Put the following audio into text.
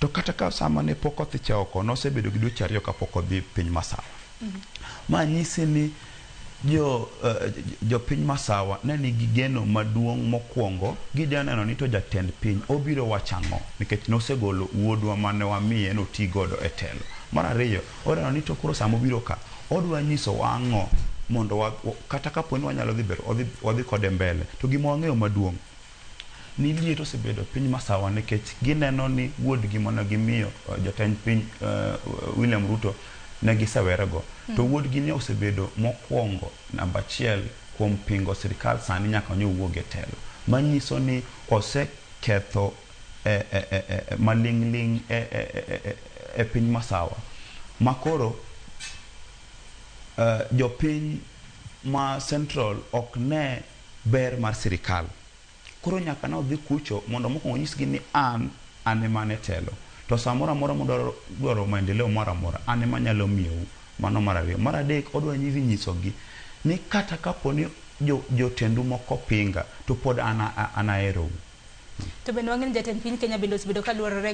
To kata ka sa ma ne pok othiche oko, nosebedo gi dweche ariyo ka pok odhi piny masawa. Ma nyisi ni jo, eh, jo piny masawa ne nigi geno maduong' mokwongo. Gidwa neno ni to jatend piny obiro wacho ang'o nikech nosegolo wuodwa ma ne wamiye ni oti godo e telo. Mar ariyo, odwa neno ni to koro sa mobiro ka, odwa nyisowa ang'o mondo wa, kata ka po ni wanyalo dhi ber, wadhi, wadhi kode mbele. To gima wang'eyo maduong', ni liet osebedo piny masawa nikech gineno ni wuodgi mane gimiyo eh, jatend piny eh, William Ruto ne gisewerego to hmm. wuodgi ne osebedo mokwongo namba achiel kuom pingo sirikal sani nyaka ne owuog e telo manyiso ni oseketho eh, maling'ling' e piny masawa makoro jopiny ma central ok ne ber mar sirikal. Koro nyaka ne odhi kucho mondo mokwongo onyisgi ni an, an ema an e telo. To sa moro amora mudwaro dwaro maendeleo moro amora, an ema anyalo miyou. Mano mar ariyo. Mar adek, odwa dhi nyisogi ni kata kapo ni jo, jotendu moko pinga, to pod an, an aherou. To bende wang'e ni jatend piny Kenya bende osebedo ka luorore